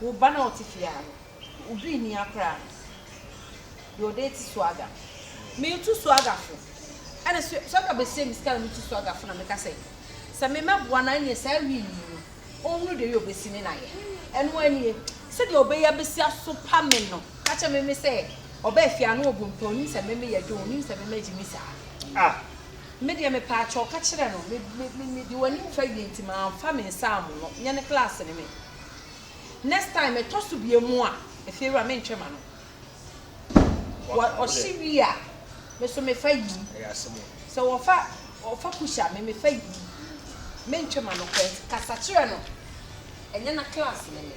Wo ba no a ɔte fie ha no, obi nni ha koraa. Deɛ ɔda ati Swagga. Metu Swagga fo. Ɛna Swagga bɛsrɛ me sika na metu Swagga fo na meka sɛ, sɛ memmɛboa no a, ɛnneɛ saa wii yi no, ɔnhunu deɛ wei ɔbɛsi ne nayɛ. Ɛno ara nie. Sɛdeɛ ɔbɛyɛ abɛsi asopa me no, ka kyerɛ Meme sɛ, ɔbaa fie ha na ɔbu mpɛ, ɔnim sɛ Meme yɛ dwo, ɔnim sɛ Meme agye me saa. Ah! Me deɛ mepaakyɛw ka kyerɛ no, me, me, me, mede w'anim fa wie nti mamfa me nsa ammono, nyɛ ne klaase ne me. Next time ɛtɔ so bie mu a ɛfie wura me ntwɛ ma no wɔ ɔhye wie a me so me fa yi sɛ wɔfa ɔfa kusha me me fa yi me ntwɛ ma no kɛs kasa kyerɛ no ɛnyɛ na class ne me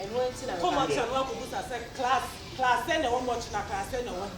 ɛno ɛnti na me ba kɔmɔ kyerɛ no akɔ busa sɛ class class sɛ na ɛwɔ mɔ kyi na class sɛ na ɛwɔ mu.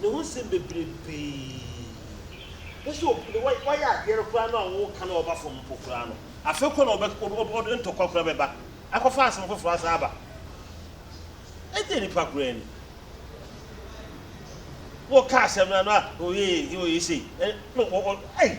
ne ho nsɛm bebrebee. Bɛ sɛ obi ne wai wayɛ adeɛ no koraa no a wo ka na ɔba fam mpo koraa no, afei kɔ na ɔbɛ ɔbɛ ɔbɛ ɔde ntɔkwa koraa bɛba akɔfa asɛm foforɔ asan aba. Ɛdeɛ nipa koraa ni? Wo ka asɛm no a, na ɔyɛ yei, na ɔyɛ sei. Ɛ, na ɔ, ɔ, ei!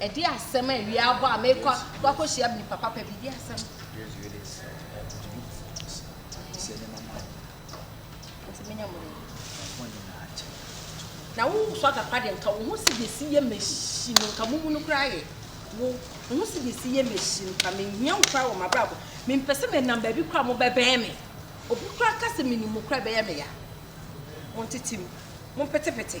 Ɛde asɛm a awia abɔ a mekɔ akɔhyia nipa papa bi de asɛm. Nti menya mo dɛ. Na wo so agapa de nka wo ho si de si yɛ machine nka mumu no kura yɛ wo wo ho si de si yɛ machine nka me hia wo kura wɔ mabrabo me mpɛ sɛ me nam baabi kura mo bɛbɛn me obi kura ka sɛ me ni mo kura bɛyɛ me ya mo ntetem mo petepete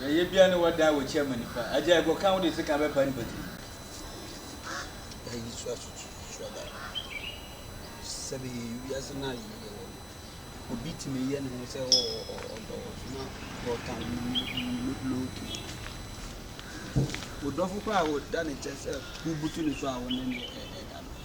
yɛyɛ bia ne wɔda a wɔkyia ma nipa agya ɛkɔ ka wode sika bɛpa nipa tiri ɛyi so asutu so aba sɛ bɛyɛ yi wiase no ayɛ yɛ wɔ no obi tumi yɛ ne ho sɛ ɔdɔ wɔ so na ɔka loki wodɔfo kɔ a woda ne kyɛ sɛ wobutu ne so a wone ne ɛda no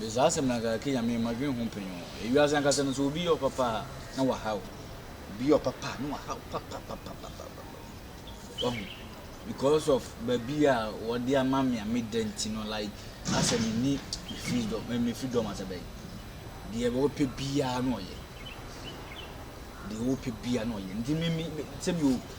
Bɛ saa asɛm no anka ɛka Nyame mma dwen ho mpɛn o. Ewiase ankasa no sɛ obi yɛ ɔpapa a na waha o. Obi yɛ ɔpapa a na waha o papapapapapa wahu because of baabi a wɔde ama me a meda nti no like asɛ menni me freedom me freedom asɛ bɛn deɛ wɔpɛ biara na ɔyɛ deɛ wɔpɛ biara na ɔyɛ nti me me sɛbi o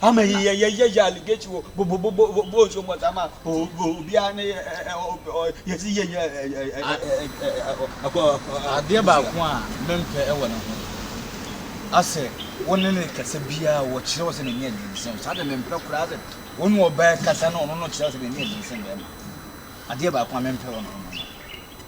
Ama yi yɛ yɛ yɛ yɛ aligate wo bo bo bo bo bo nso mo tama o o obiara ne ɛ ɛ ɔ yɛ si yɛ yɛ ɛ ɛ ɛ ɛ ɛ akɔ akɔ. Adeɛ baako a me mpɛ wɔ ne ho asɛ wo ne ne kasa biara wɔ kyerɛ wo sɛ n'ani yɛ den sɛn saa deɛ me mpɛ koraa asɛ wo ne ɔbaa kasa na ɔno no kyerɛ wo sɛ n'ani yɛ den sɛn bɛɛma adeɛ baako a me mpɛ wɔ ne ho no no.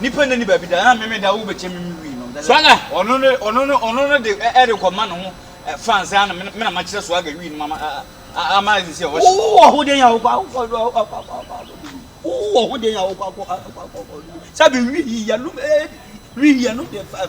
Nipa nna ni baabi da, na meme da wo bɛkyɛ me me wii no. Swaga! Ɔno ne ɔno ne ɔno ne de ɛde kɔ ma ne ho fans a na me na makyerɛ Swaga wii no ma ama ɛsɛ sɛ ɔhyɛ. Wo wɔ ho den a wokɔ akɔ wo wɔ ho den a wokɔ akɔ akɔ akɔ sɛ bi wii yɛnom wii yɛnom de fa.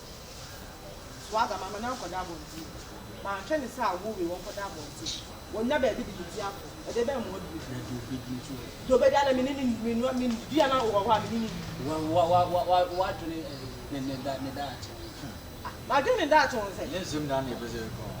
Swagga, ma me na nkɔda abɔnten o. Manhwɛ ne sɛ awo wei ɔnkɔda abɔnten. Ɔnnya baabi de bedi ako. Ɛdeɛ bɛn mmoa bio? Na deɛ ɔbɛdi nso ɛ? Deɛ ɔbɛdi ara na me ne no nni. Menoa me nni. Dua no ara wowɔ hɔ a me ne no nni. W'adwene ne daakye ho nsɛ? M'adwene ne daakye ho nsɛ? Ɛnyɛ nsɛm nyinaa na yɛpɛ sɛ yɛka o.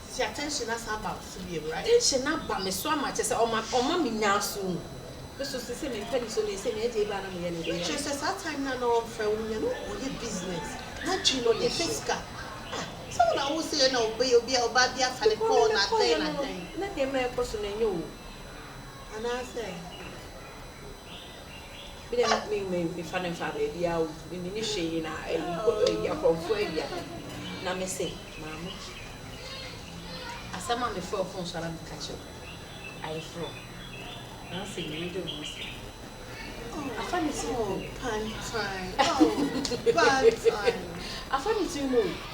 Sisi akyɛ nhyɛ no asan aba me so bio awurade nhyɛ no aba me so ama kyɛ sɛ ɔma ɔma me nyaa so mu me so sɛ sɛ me mpɛ ne so ne sɛ me agye ba na me yɛ ne de kyerɛ sɛ saa time na na ɔmfrɛ wo nyɛ no ɔyɛ business na dwi no de fɛ sika ah sɛ wo na wo sɛ yɛ na ɔbɛyɛ obi a ɔba bi afa ne kɔɔ na dɛn na dɛn na nneɛma ɛkɔ so na ɛnyɛ o anaasɛ Me deɛ na me me me fa no nfa baabiara o, me me ni hwee na ɛyi kɔ ɛyi akorɔmfoɔ awia. Na me se maame, asɛm a me frɛ ɔfon so ara me ka kyerɛ o, ayɛ frɔ. Na ɔse me ne de o mo se. Afa ne ti mu o. Pantime oh pantime. Afa ne ti mu o.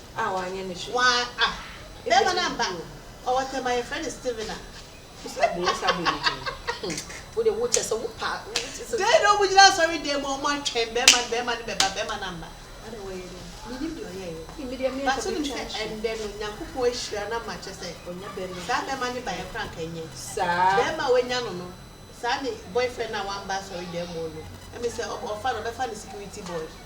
a wanyɛ ne hwee. Waa ah bɛɛma no amba ɔwɔ tɛm a yɛfrɛ no Steven a. Wosa bo wosa bo ne din hmm wo de wo kyɛsɛ wo pa wo kyɛsɛ. Dɛn na ɔmo gyina asɔre dan mu a ɔmo atwɛn bɛɛma no bɛɛma no bɛba bɛɛma no amba. Adɛn wɔyɛ dɛn menim deɛ ɔyɛɛyɛ but wonim sɛ ɛndɛ no Nyankopɔn ahyira no ama kyɛsɛ saa bɛɛma no baeɛ koraa anka ɛnyɛ bɛɛma a wanya no no saa ne boyfriend no a wamba asɔre dan mu no ɛme sɛ ɔfa no ɔbɛfa no security boy.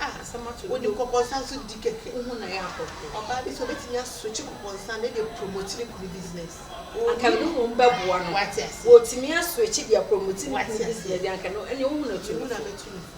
Ah asɛm ato wo de kɔkɔɔ nsa nso di kɛkɛ wo ho na yɛ akɔ ɔbaa bi sɛ ɔbɛtumi a switch kɔkɔɔ nsa no de promote ne kunu business anka mene mmom bɛboa no wate aseɛ wɔtumi a switch de a promote ne kunu business anka no ɛneɛ wo ho na to nufoɔ